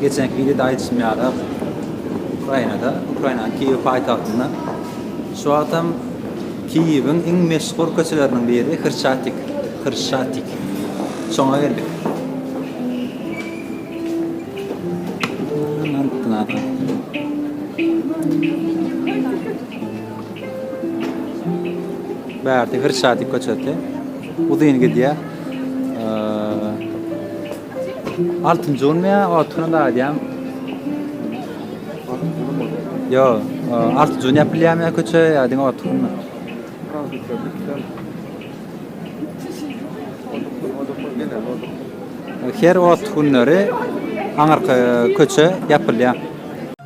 Geçenki wideoda aýdyşym ýaly, Ukrainada, Ukrainanyň Kiýew paýtagtynda şu wagtam Kiýewiň iň meşhur köçeleriniň biri Hrşatik, Hrşatik. Şoňa geldik. Bärde Hrşatik köçesi. Uzyn gidýär. Altynjy gün men oturan aýdýan. Yo, altynjy gün ýapylýan men köçe ýadyn oturan. Her ot günleri aňarka köçe ýapylýan.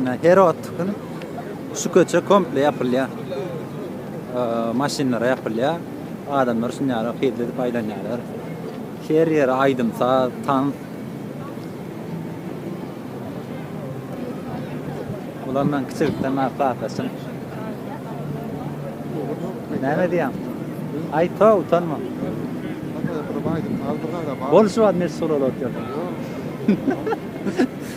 Ine her wagt gün şu köçe komple ýapylýar. Maşynlara ýapylýar. Adamlar şun ýaly hyzly edip aýlanýarlar. Her ýere aýdym saz, tans. Ulan men kiçilikden bäri klasdaşym. Näme diýýäň? Aýta utanma. Bol şu wagt meşhur bolup ýör.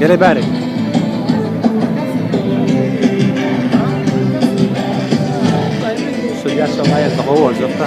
Gele bäri. Şu yaşam aýatda gowy boljak da.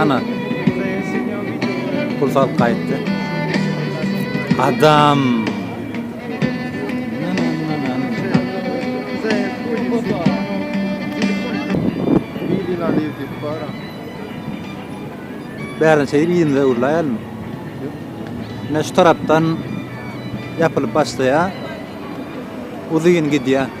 Ana. Pul salyp gaýtdy. Adam. Bärin şeýdip ýerimize urlaýarmy? Ine şu tarapdan ýapylyp başlaýar. Uzyn gidýär.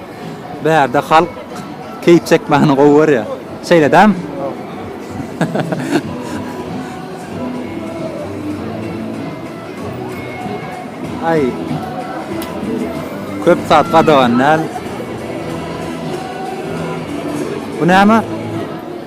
Bärde halk keýp çekmäni gowy görýär. Şeýle dämi? Aý. Köp zat gadagan däl. Bu näme?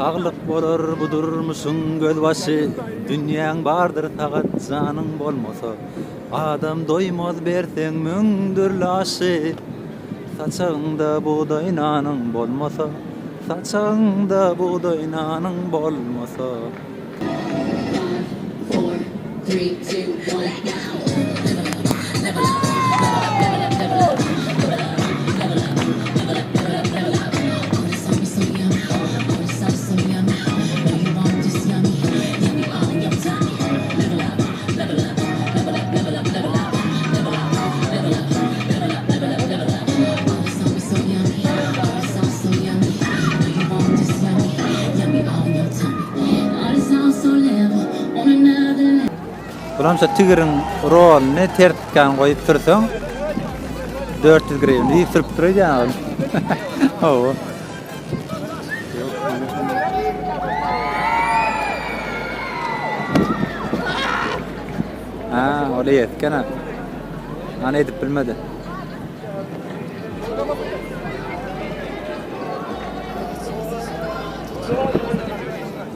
Saglyk bolar bu durmuşyň gözbaşy Dünýäň bardyr sagat janyň bolmasa Adam doýmaz berseň müň dürli aşy. Saçagyňda bugdaý nanyň bolmasa Saçagyňda bugdaý nanyň bolmasa Bulam şo tigiriň rolyny ters tutan goýup sürseň dört ýüz grywna diýip sürüp dur öýdýän ol. Hawa. Ha, o da yetken ha. Ana edip bilmedi.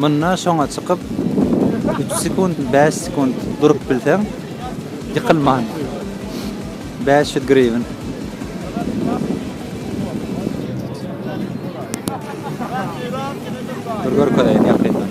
Munda şoňa çykyp, üç sekunt, bäş sekunt durup bilseň, ýykylman, bäş ýüz griwin. Dur görkezeýin ýakyndan.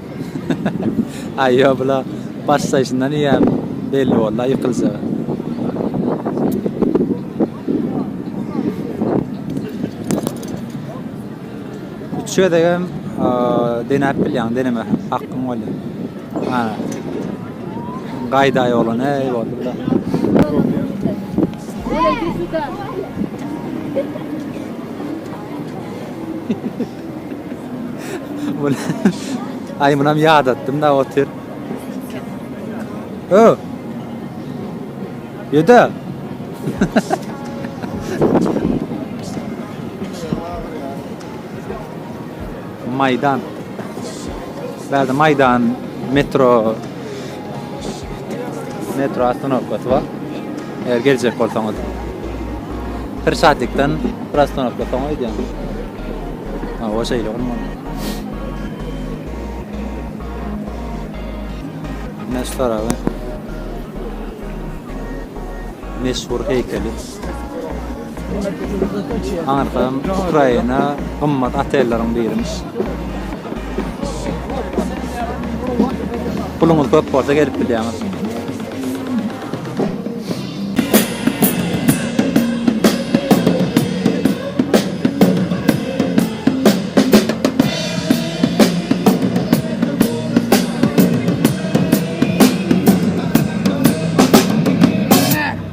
Aý ýo bula başlaýşyndan iýen belli boldy ýykyljaga. Üç gezegem denäp bilýäň deneme hakkyň bolýa. Ha. Gaýda ýolan eý boldy bula. Ola git suda. Aý munam ýadatdym-da otyr. Ö. Ýöde. Maýdan. Bärde Maýdan metro Metro ostanowkasy bar. Eger geljek bolsaňyz. Bir şatlikden bir ostanowka soň öýdýän. Ha, o şeýle gurman. Meşhur abi. Meşhur heýkeli. Aňyrsam Ukraina gymmat otelleriň birimiş. Puluňyz köp bolsa gelip bilýäňiz.